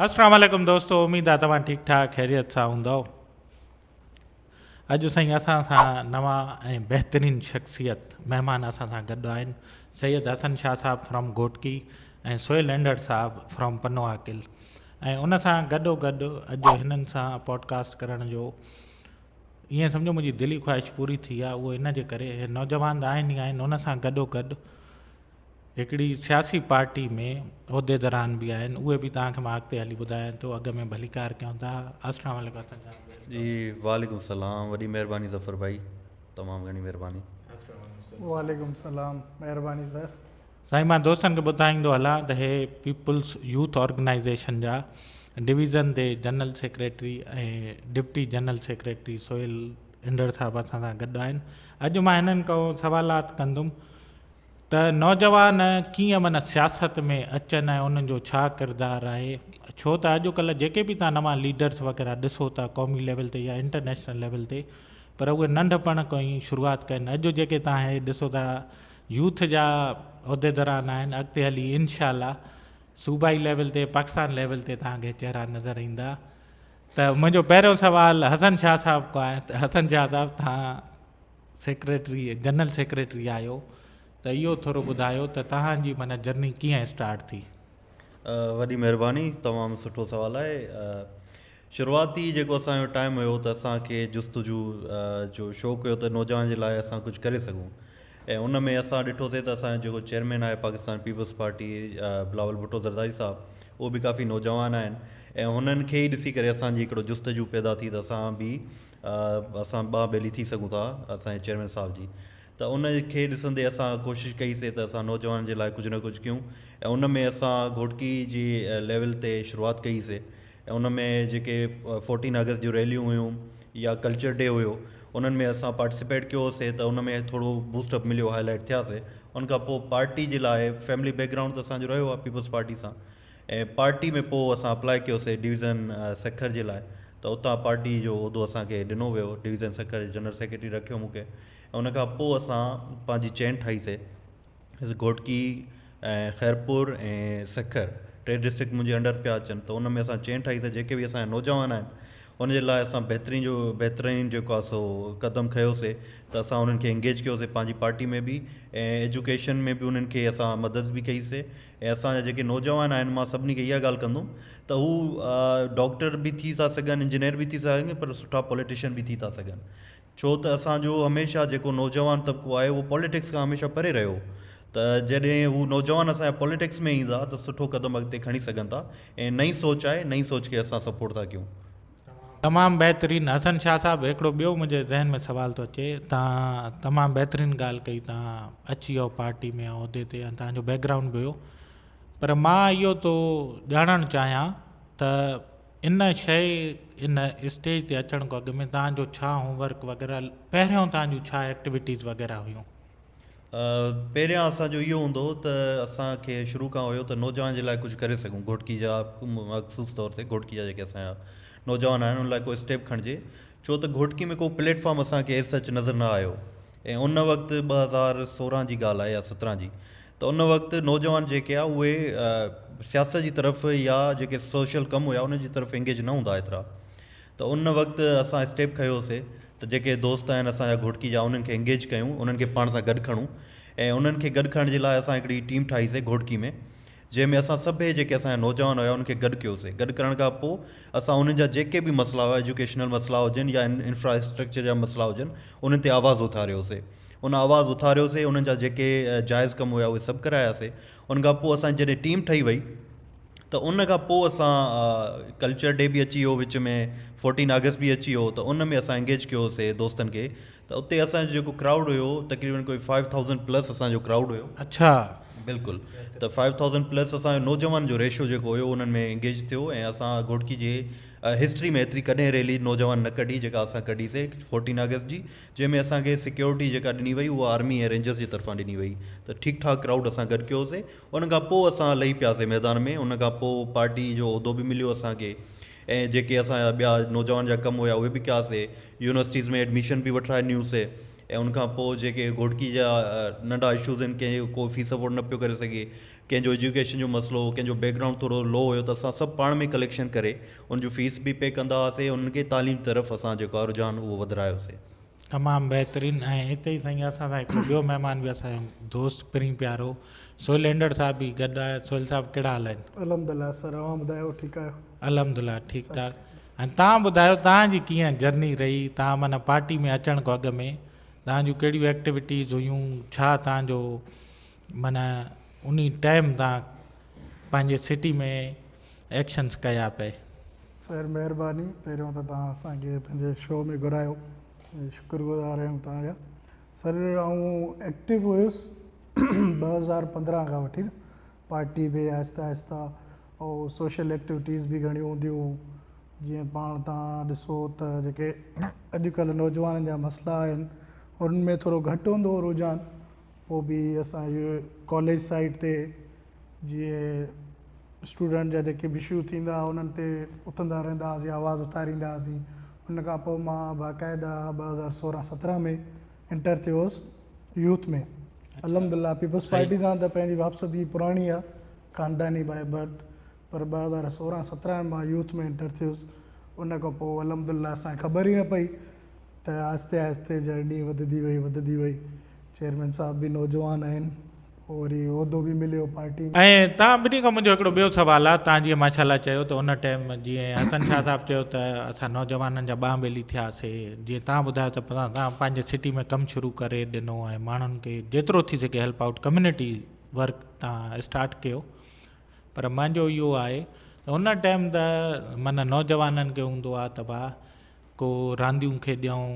اسلام عليڪم دوستو اميد آ توهان ٺيڪ ٺاڪ خيريت سان هوندؤ اڄ سائين اسان سان نوان ۽ بهترين شخصيت مهمان اسان سان گڏ آهن سيد حسن شاهه صاحب فرام گهوٽڪي ۽ سهيل اينڊڙ صاحب فرام پنو عاقل ۽ ان سان گڏو گڏ اڄ هنن سان پوڊڪاسٽ ڪرڻ جو ائين سمجھو منهنجي دلي خواهش پوري ٿي آ اهو ان جي ڪري نوجوان آهن ئي آهن ان سان گڏو گڏ هڪڙي سياسي پارٽي ۾ عهديدران به آهن اهي به توهان کي مان اڳتي هلي ٻڌايان ٿو اڳ ۾ ڀليڪار ڪيون ٿا اسلام عليڪم جي وعليڪم السلام وڏي مهرباني ظفر ڀائي تمام گهڻي مهرباني وعليڪم السلام مهرباني سر سائين مان دوستن کي ٻڌائيندو هلان ته هي پيپلز يوٿ آرگنائيزيشن جا division the general secretary ۽ deputy general secretary Sohail انڊر صاحب اسان سان گڏ آهن اڄ مان هنن ڪو سوالات ڪندم ته نوجوان ڪيئن من سياست ۾ اچن ۽ انهن جو ڇا ڪردار آهي ڇو ته اڄ ڪلهه جيڪي به تان نوان ليڊرس وغيره ڏسو ٿا قومي ليول تي يا انٽرنيشنل ليول تي پر اهي ننڍ پڻ کان ئي شروعات ڪئي آهن اڄ جيڪي تان هي ڏسو ٿا يوٿ جا عهديدران آهن اڳتي هلي انشاء الله صوبائي ليول تي پاڪستان ليول تي تان کي چهرا نظر ايندا ته منهنجو پهريون سوال حسن شاهه صاحب کان آهي ته حسن شاهه صاحب تان سيڪريٽري جنرل سيڪريٽري آهيو ته اهو ٿورو ٻڌايو ته توهان جي معنيٰ جرني ڪيئن اسٽارٽ ٿي؟ وڏي مهرباني تمام سٺو سوال آهي شروعاتي جيڪو اسان جو ٽائيم هيو ته اسان کي جستجو جو شوق هيو ته نوجوان جي لاء اسان ڪجهه ڪري سگهون ۽ ان ۾ اسان ڏٺوسي ته اسان جو جيڪو چيئرمين آهي پاڪستان پيپلز پارٽي بلاول ڀٽو زرداري صاحب اهو به ڪافي نوجوان آهن ۽ هنن کي ئي ڏسي ڪري اسان جي هڪڙو جستجو پيدا ٿي ته اسان به اسان ٻانهن ٻيلي ٿي سگهون ٿا اسان جي چيئرمين صاحب جي ته ان کي ڏسندي اسان ڪوشش ڪئي سي ته اسان نوجوان جي لاء ڪجهه نه ڪجهه ڪيون ۽ ان ۾ اسان گهوٽڪي جي ليول تي شروعات ڪئي سي ۽ ان ۾ جيڪي فورٽين اگست جون ريليون هيون يا ڪلچر ڊي هيو انهن ۾ اسان پارٽيسپيٽ ڪيو سي ته ان ۾ ٿورو بوسٽ اپ مليو هائلائٽ ٿيا سي ان کان پوء پارٽي جي لاء فيملي بيڪگرائونڊ ته اسان جو رهيو آهي پيپلز پارٽي سان ۽ پارٽي ۾ پوء اسان اپلاء ڪيوسي ڊويزن سکر جي لاء ته اتان پارٽي جو عهدو اسان کي ڏنو ويو ڊويزن سکر جو جنرل سيڪريٽري رکيو مون کي ۽ ان کان پوء اسان پنهنجي چين ٺاهي سي گهوٽڪي ۽ خيرپور ۽ سکر ٽي ڊسٽرڪٽ منهنجي انڊر پيا اچن ته ان ۾ اسان چين ٺاهي سي جيڪي به اسان نوجوان آهن ان جي لاء اسان بهترين جو بهترين جيڪو آهي سو قدم کنيوسي ته اسان انهن کي انگيج ڪيوسي پنهنجي پارٽي ۾ به ۽ ايجوڪيشن ۾ به انهن کي اسان مدد به ڪئي سي ۽ اسان جا جيڪي نوجوان آهن مان سڀني کي اها ڳالهه ڪندم ته هو ڊاڪٽر به ٿي ٿا سگهن انجنيئر به ٿي ٿا سگهن پر سٺا پوليٽيشن به ٿي ٿا سگهن ڇو ته اسان جو هميشه جيڪو نوجوان طبقو آهي اهو پوليٽڪس کان هميشه پري رهيو ته جڏهن هو نوجوان اسان جا پوليٽڪس ۾ ايندا ته سٺو قدم اڳتي کڻي سگهن ٿا ۽ نئين سوچ آهي نئين سوچ کي اسان سپورٽ ٿا ڪيون تمام بهترين حسن شاهه صاحب هڪڙو ٻيو منهنجي ذهن ۾ سوال ٿو اچي تان تمام بهترين ڳالهه ڪئي تان اچي ويو پارٽي ۾ عهدي تي ۽ تانجو بيڪ گرائونڊ به هيو پر مان اهو تو ڄاڻڻ چاهيان ته ان شي ان اسٽيج تي اچڻ کان اڳ ۾ تانجو ڇا هوم ورڪ وغيره پهريون تانجو ڇا ايڪٽيويٽيز وغيره هيون پهريان اسان جو اهو هوندو هو ته اسان کي شروع کان هيو ته نوجوانن جي لاء ڪجهه ڪري سگهون گهوٽڪي جا مخصوص طور تي گهوٽڪي جا جيڪي اسان جا نوجوان آهن انهن لاء ڪو اسٽيپ کڻجي ڇو ته گهوٽڪي ۾ ڪو پليٽ فارم اسان کي ايس سچ نظر نه آيو ۽ ان وقت ٻه هزار سورهن جي ڳالهه آهي يا سترهن جي ته ان وقت نوجوان جيڪي آ اهي سياست جي طرف يا جيڪي سوشل ڪم هيا انهن جي طرف انگيج نه هوندا ايترا ته ان وقت اسان اسٽيپ کنيوسي ته جيڪي دوست آهن اسان جا گهوٽڪي جا انهن کي انگيج ڪيون انهن کي پاڻ سان گڏ کڻون ۽ انهن کي گڏ کڻڻ جي لاء اسان هڪڙي ٽيم ٺاهي سي گهوٽڪي ۾ جنهن ۾ اسان سڀئي جيڪي اسان جا نوجوان هيا انهن کي گڏ ڪيو سي گڏ ڪرڻ کان پو اسان انهن جا جيڪي به مسئلا هيا ايجوڪيشنل مسئلا هجن يا انفراسٽرڪچر جا مسئلا هجن انهن تي آواز اٿاريو سي ان آواز اٿاريو سي انهن جا جيڪي جائز ڪم هيا اهي سڀ ڪرايا سي ان کان پو اسان جي جڏهن ٽيم ٺهي وئي ته ان کان پوء اسان ڪلچر ڊي به اچي ويو وچ ۾ فورٽين آگسٽ به اچي ويو ته ان ۾ اسان انگيج ڪيو سي دوستن کي ته اتي اسانجو جيڪو ڪرائوڊ هيو تقريبن ڪوئي فائيو ٿائوزنڊ پلس اسانجو ڪرائوڊ هيو اڇا بلڪل ته فائيو ٿائوزنڊ پلس اسانجو نوجوان جو ريشو جيڪو هيو انهن ۾ انگيج ٿيو ۽ اسان گهوٽڪي جي هسٽري ۾ ايتري ڪڏهن ريلي نوجوان نه ڪڍي جيڪا اسان ڪڍي سي فورٽين آگسٽ جي جنهن ۾ اسانکي سيڪيورٽي جيڪا ڏني وئي اها آرمي ۽ رينجرس جي طرفان ڏني وئي ته ٺيڪ ٺاڪ ڪرائوڊ اسان گڏ ڪيو سي ان کان پوء اسان لهي پياسي ميدان ۾، ان کان پوء پارٽي جو عهدو به مليو اسان کي ۽ جيڪي اسان جا ٻيا نوجوان جا ڪم هيا اهي به ڪياسي، يونيورسٽيز ۾ ايڊميشن به وٺرائي ڏنيون سي ۽ ان کان پوء جيڪي گهوٽڪي جا ننڍا اشوز هين ڪنهن جو ڪو فيس افورڊ نه پيو ڪري سگهي، ڪنهن جو ايجوڪيشن جو مسئلو هو، ڪنهن جو بيڪ گرائونڊ ٿورو لو هيو ته اسان سڀ پاڻ ۾ ڪليڪشن ڪري ان جون فيس به پي ڪندا هئاسي ۽ انهن کي تعليم طرف اسان جيڪو آهي رجحان اهو وڌرايو سي. تمام بهترين ۽ اتي ئي سائين اسان سان هڪڙو ٻيو مهمان به اسان جو دوست پرين پيارو سهيل هينڊڙ صاحب به گڏ آهي سهيل صاحب ڪهڙا حال آهن الحمدالله سر اوهان ٻڌايو ٺيڪ آهيو الحمدالله ٺيڪ ٺاڪ ۽ توهان ٻڌايو توهان جي ڪيئن جرني رهي توهان معنيٰ پارٽي ۾ اچڻ کان اڳ ۾ توهان جون ڪهڙيون ايڪٽيوٽيز هيون ڇا توهان جو معنيٰ انهي ٽائيم تان پنهنجي سٽي ۾ ايڪشنس ڪيا پئي. سر مهرباني پهريون ته توهان اسان کي پنهنجي شو ۾ گهرايو شڪر گذار آهيون توهان جا سر آئون ايڪٽو هيس ٻه هزار پندرهن کان وٺي نه پارٽي به آهستي آهستي او سوشل ايڪٽوٽيز به گهڻيون هونديون هيون جيئن پاڻ توهان ڏسو ته جيڪي اڄڪلهه نوجوانن جا مسئلا آهن انهن ۾ ٿورو گهٽ هوندو هو رجحان پوء به اسان جي ڪاليج سائيٽ تي جيئن اسٽوڊنٽ جا جيڪي به اشو ٿيندا هئا انهن تي اٿندا رهندا هئاسين آواز اٿاريندا هئاسين ان کان پوء مان باقاعده ٻه هزار سورهن سترهن ۾ انٽر ٿيو هوس يوٿ ۾ الحمد لله پيپلس پارٽي سان ته پنهنجي واپسدي پراڻي آ خانداني باء برٿ پر ٻه هزار سورهن سترهن مان يوٿ ۾ انٽر ٿيس ان کان پوء الحمد لله اسانکي خبر ئي نه پئي ته آهستي آهستي جهڙ ڏينهن وڌدي وئي وڌدي وئي چيئرمين صاحب به نوجوان آهن پوء وري عهدو به مليو پارٽي ۾. ۽ توهان ٻنهي کان منهنجو هڪڙو ٻيو سوال آ توهان جيئن ماشاء الله چيو ته ان ٽيم جيئن حسن شاهه صاحب چيو ته اسان نوجوانن جا ٻانهن ٻيلي ٿياسي جيئن توهان ٻڌايو ته توهان پنهنجي سٽي ۾ ڪم شروع ڪري ڏنو ۽ ماڻهن کي جيترو ٿي سگهي هيلپ آئوٽ ڪميونٽي ورڪ توهان اسٽارٽ ڪيو پر منهنجو اهو آهي ته ان ٽيم ته معنيٰ نوجوانن کي هوندو آ ته ڀا ڪو رانديون کيڏيائون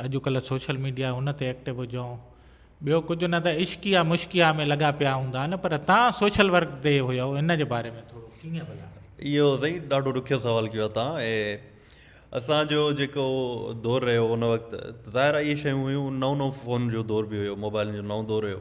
اڄ ڪلهه سوشل ميڊيا آهي ان تي ايڪٽو هجائون ٻيو ڪجهه نه ته عشقيا مشقيا ۾ لڳا پيا هوندا آهن پر تان سوشل ورڪ تي هيو ان جي باري ۾ ٿورو ڪيئن ڀلا. اهو سائين ڏاڍو ڏکيو سوال ڪيو آهي تان اي اسان جو جيڪو دور رهيو ان وقت ظاهر اهي شيون هيون نئون نئون فون جو دور به هيو موبائلن جو نئون دور هيو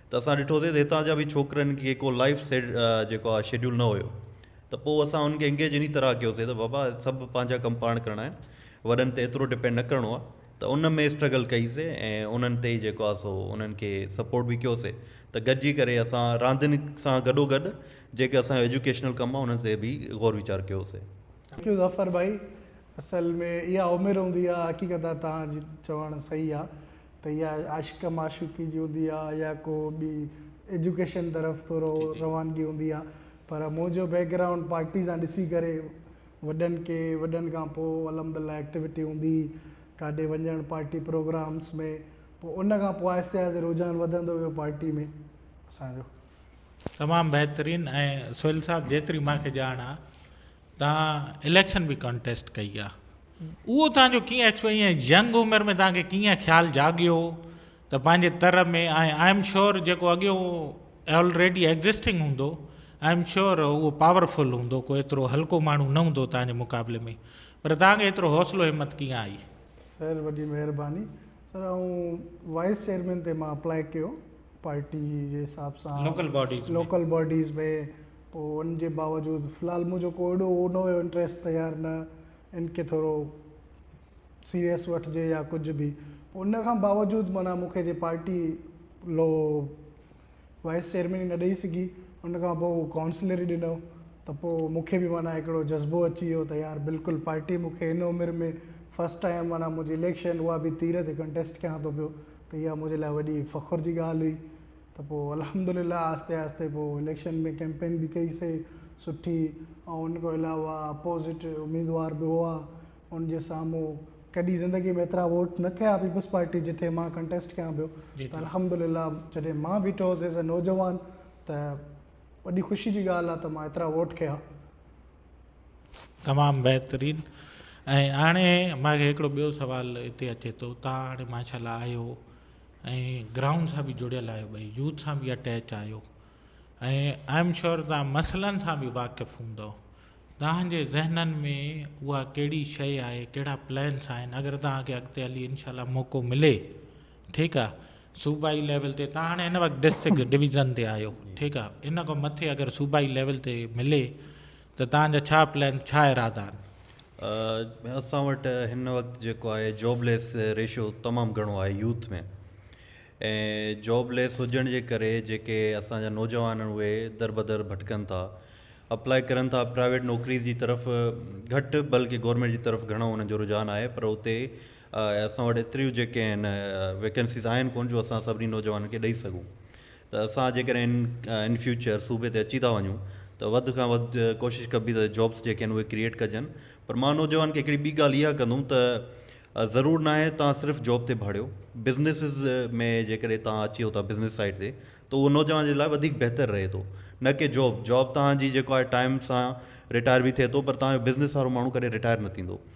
ته اسان ڏٺوسين ته هتان جا به ڇوڪرن کي ڪو لائيف جيڪو آهي شيڊيول نه هيو ته پوء اسان انهن کي انگيج انهي طرح ڪيوسين ته بابا سڀ پنهنجا ڪم پاڻ ڪرڻا آهن وڏن تي ايترو ڊپينڊ نه ڪرڻو آهي ته ان ۾ اسٽرگل ڪئي سي ۽ انهن تي جيڪو آهي سو انهن کي سپورٽ به ڪيو سي ته گڏجي ڪري اسان راندين سان گڏو گڏ جيڪي اسان جو ايجوڪيشنل ڪم آهي انهن تي به غور ويچار ڪيو سي. ٿينڪ يو ظفر ڀائي اصل ۾ اها عمر هوندي آهي حقيقت آهي توهان جي چوڻ صحيح آهي ته اها عشق معشوقي جي هوندي آ يا ڪو ٻي ايجوڪيشن طرف ٿورو روانگي هوندي آ پر منهنجو بيڪ گرائونڊ پارٽي سان ڏسي ڪري وڏن کي وڏن کان پوء الحمد الله ايڪٽيوٽي هوندي هئي ڪاڏي وڃڻ پارٽي پروگرامس ۾ پوء ان کان پوء آهستي آهستي رجحان وڌندو ويو پارٽي ۾ اسان جو. تمام بهترين ۽ سهيل صاحب جيتري مانکي ڄاڻ آ تان اليڪشن به ڪانٽيسٽ ڪئي آ. اهو توهان جو ڪيئن اچيو ۽ ينگ عمر ۾ توهان کي ڪيئن خيال جاڳيو ته پنهنجي تر ۾ ۽ آئي ايم شيور جيڪو اڳيئون آلريڊي ايگزسٽنگ هوندو آئي ايم شيور اهو پاور فل هوندو ڪو ايترو هلڪو ماڻهو نه هوندو توهان جي مقابلي ۾ پر توهان کي ايترو حوصلو همت ڪيئن آئي؟ سر وڏي مهرباني سر آئون وائيس چيئرمين تي مان اپلائي ڪيو پارٽي جي حساب سان لوڪل باڊيز ۾ لوڪل باڊيز ۾ پوء ان جي باوجود في الحال منهنجو ڪو اهڙو هو نه هيو انٽريسٽ ته يار نه ان کي ٿورو سيريس وٺجي يا ڪجهه به ان کان باوجود معنيٰ مون کي جي پارٽي لو وائيس چيئرمين نه ڏئي سگهي ان کان پوء ڪائونسلر ئي ڏنو ته پوء مون کي به معنيٰ هڪڙو جذبو اچي ويو ته يار بلڪل پارٽي مون کي هن عمر ۾ فرسٽ ٽائيم معنيٰ منهنجي اليڪشن اها به تير تي ڪنٽيسٽ ڪيان ٿو پيو ته اها منهنجي لاء وڏي فخر جي ڳالهه هئي ته پوء الحمدلله آهستي آهستي پوء اليڪشن ۾ ڪئمپين به ڪئي سي سٺي ۽ ان کان علاوه اپوزٽ اميدوار به هئا ان جي سامهون ڪڏهن زندگي ۾ ايترا ووٽ نه ڪيا پيپلز پارٽي جتي مان ڪنٽيسٽ ڪيان پيو ته الحمدلله جڏهن مان بيٺو هوس ايز اي نوجوان ته وڏي خوشي جي ڳالهه آهي ته مان ايترا ووٽ ڪيا. تمام بهترين ۽ هاڻي مون کي هڪڙو ٻيو سوال هتي اچي ٿو تان هاڻي ماشاء الله آهيو ۽ گرائونڊ سان به جڙيل آهيو ڀئي يوٿ سان به اٽيچ آهيو ۽ آئي ايم شور تان مسئلن سان به واقف هوندو تهانجي ذهنن ۾ اها ڪهڙي شيء آهي ڪهڙا پلانس آهن اگر تهانکي اڳتي هلي انشاء الله موقعو ملي ٺيڪ آهي صوبائي ليول تي تهان هاڻي هن وقت ڊسٽرڪٽ ڊويزن تي آهيو ٺيڪ آهي ان کان مٿي اگر صوبائي ليول تي ملي ته توهان جا ڇا پلان، ڇا ارادا آهن؟ اسان وٽ هن وقت جيڪو آهي جاب ليس ريشو تمام گهڻو آهي يوٿ ۾ ۽ جاب ليس هجڻ جي ڪري جيڪي اسان جا نوجوان آهن اهي در بدر ڀٽڪن ٿا اپلائي ڪرن ٿا پرائيويٽ نوڪريز جي طرف گهٽ بلڪه گورمينٽ جي طرف گهڻو انهن جو رجحان آهي پر اتي اسان وٽ ايتريون جيڪي آهن ويڪنسيز آهن ڪون جو اسان سڀني نوجوانن کي ڏئي سگهون ته اسان جيڪڏهن ان فيوچر صوبي تي اچي ٿا وڃون ته وڌ کان وڌ ڪوشش ڪبي ته جابس جيڪي آهن اهي ڪريئيٽ ڪجن پر مان نوجوان کي هڪڙي ٻي ڳالهه اها ڪندوم ته ضرور ناهي توهان صرف جاب تي ڀاڙيو بزنسز ۾ جيڪڏهن توهان اچيو ٿا بزنس سائيڊ تي ته اهو نوجوان جي لاء وڌيڪ بهتر رهي ٿو نه ڪي جاب جاب توهان جي جيڪو آهي ٽائيم سان رٽائر به ٿئي ٿو پر توهان جو بزنس وارو ماڻهو ڪڏهن رٽائر نه ٿيندو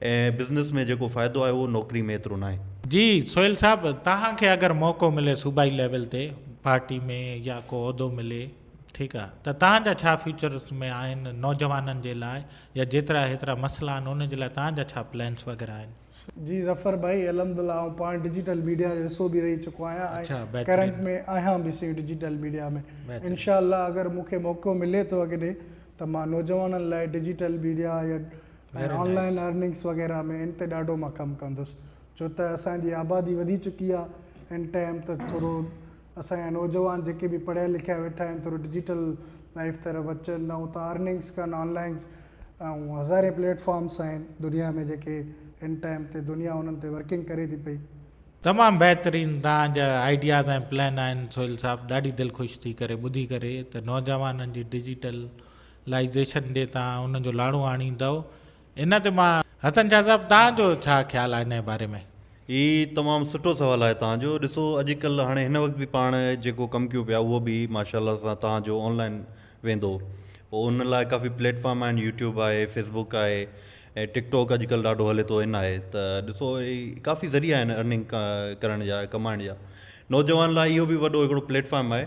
۽ بزنس ۾ جيڪو فائدو آهي اهو نوڪري ۾ ايترو ناهي. جي سهيل صاحب توهان کي اگر موقعو ملي صوبائي ليول تي پارٽي ۾ يا ڪو عهدو ملي ٺيڪ آ ته توهان جا ڇا فيوچرس ۾ آهن نوجوانن جي لاء يا جيترا هيترا مسئلا آهن ان جي لاء توهان جا ڇا پلينس وغيره آهن. جي ظفر ڀائي الحمدالله آئون پاڻ ڊجيٽل ميڊيا جو حصو به رهي چڪو آهيان اڇا ۽ ڪرنٽ بهترين. ۾ آهيان به سائين ڊجيٽل ميڊيا ۾ بهترين. انشاء الله اگر مون کي موقعو ملي ٿو اڳتي ته مان نوجوانن لاء ڊجيٽل ميڊيا يا ۽ آن لائن ارننگس وغيره ۾ ان تي ڏاڍو مان ڪم ڪندس ڇو ته اسان جي آبادي وڌي چڪي آ ان ٽائيم ته ٿورو اسان جا نوجوان جيڪي به پڙهيا لکيا ويٺا آهن ٿورو ڊجيٽل لائيف طرف اچن نه ته ارننگس ڪن آن لائنس ۽ هزارين پليٽ فارمس آهن دنيا ۾ جيڪي ان ٽائيم تي دنيا انهن تي ورڪنگ ڪري ٿي پئي تمام بهترين توهان جا آئيڊياز ۽ پلان آهن سهيل صاحب ڏاڍي دل خوش ٿي ڪري ٻڌي ڪري ته نوجوانن جي ڊجيٽل لائيزيشن ڏي تان ان جو لاڙو آڻيندؤ ان تي مان. حسن شاهه صاحب تان جو ڇا خيال آهي ان جي باري ۾. هي تمام سٺو سوال آهي تان جو ڏسو اڄ ڪلهه هاڻي هن وقت به پاڻ جيڪو ڪم ڪيون پيا اهو به ماشاء الله سان تان جو آن لائين ويندو پو ان لاء ڪافي پليٽ فارم آهن يوٽيوب آهي فيس بوڪ آهي ۽ ٽڪ ٽوڪ اڄ ڪلهه ڏاڍو هلي ٿو ان آهي ته ڏسو هي ڪافي ذريعا آهن ارننگ ڪرڻ جا ڪمائڻ جا نوجوان لاء اهو به وڏو هڪڙو پليٽ فارم آهي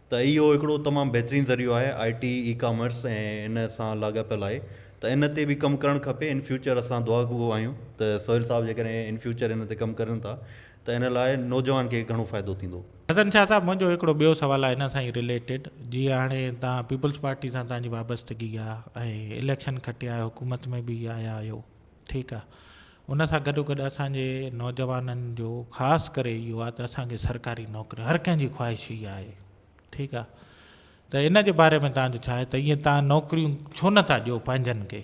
ته اهو هڪڙو تمام بهترين ذريعو آهي آء ٽي اي ڪامرس ۽ ان سان لاڳاپيل آهي ته ان تي به ڪم ڪرڻ کپي ان فيوچر اسان دعا گو آهيون ته سهيل صاحب جيڪڏهن ان فيوچر ان تي ڪم ڪرين ٿا ته ان لاء نوجوان کي گهڻو فائدو ٿيندو. حسن شاهه صاحب منهنجو هڪڙو ٻيو سوال آهي ان سان ئي رليٽيڊ جيئن هاڻي تهان پيپلز پارٽي سان تهان جي وابستگي آهي ۽ اليڪشن کٽيا آهيو حڪومت ۾ به آيا آهيو ٺيڪ آ ان سان گڏو گڏ اسان جي نوجوانن جو خاص ڪري اهو آ ته اسان کي سرڪاري نوڪري هر ڪنهن جي خواهش اها آهي ٺيڪ آ ته ان جي باري ۾ تنهنجو ڇا آهي ته ايئن تنهن نوڪريون ڇو نه ٿا ڏيو پنهنجن کي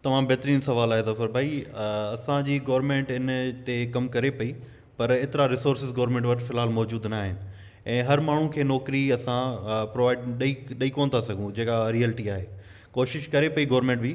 تمام بهترين سوال آهي ظفر ڀائي اسان جي گورنمينٽ ان تي ڪم ڪري پئي پر ايترا ريسورسز گورنمينٽ وٽ في الحال موجود نه آهن ۽ هر ماڻهو کي نوڪري اسان پرووائيڊ ڏئي ڏئي ڪون ٿا سگهون جيڪا ريئلٽي آهي ڪوشش ڪري پئي گورنمينٽ به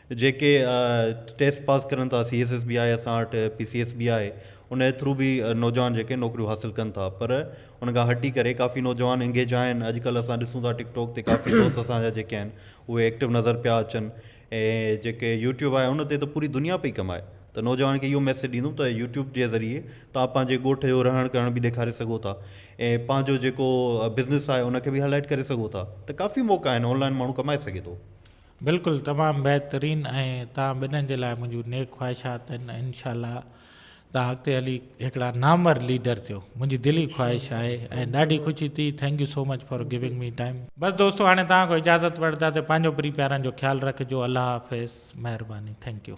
جيڪي ٽيسٽ پاس ڪرن ٿا سي ايس ايس به آهي اسان وٽ پي سي ايس به آهي ان جي ٿرو به نوجوان جيڪي نوڪريون حاصل ڪن ٿا پر ان کان هٽي ڪري ڪافي نوجوان انگيج آهن اڄڪلهه اسان ڏسون ٿا ٽڪ ٽاڪ تي ڪافي دوست اسان جا جيڪي آهن اهي ايڪٽو نظر پيا اچن ۽ جيڪي يوٽيوب آهي ان تي ته پوري دنيا پئي ڪمائي ته نوجوان کي اهو ميسج ڏيندم ته يوٽيوب جي ذريعي تان پنهنجي ڳوٺ جو رهڻ ڪرڻ به ڏيکاري سگهو ٿا ۽ پنهنجو جيڪو بزنس آهي ان کي به هائلائيٽ ڪري سگهو ٿا ته ڪافي موقعا آهن آنلائن ماڻهو ڪمائي سگهي ٿو بلڪل تمام بهترين ۽ توهان ٻنهن جي لاء منهنجون نيڪ خواهشات آهن ۽ انشاء الله توهان اڳتي هلي هڪڙا نامور ليڊر ٿيو منهنجي دلي خواهش آهي ۽ ڏاڍي خوشي ٿي thank you so much for giving me time. بس دوستو هاڻي توهان کان اجازت وٺداسين پنهنجو پري پيارن جو خيال رکجو الله حافظ مهرباني ٿينڪ يو.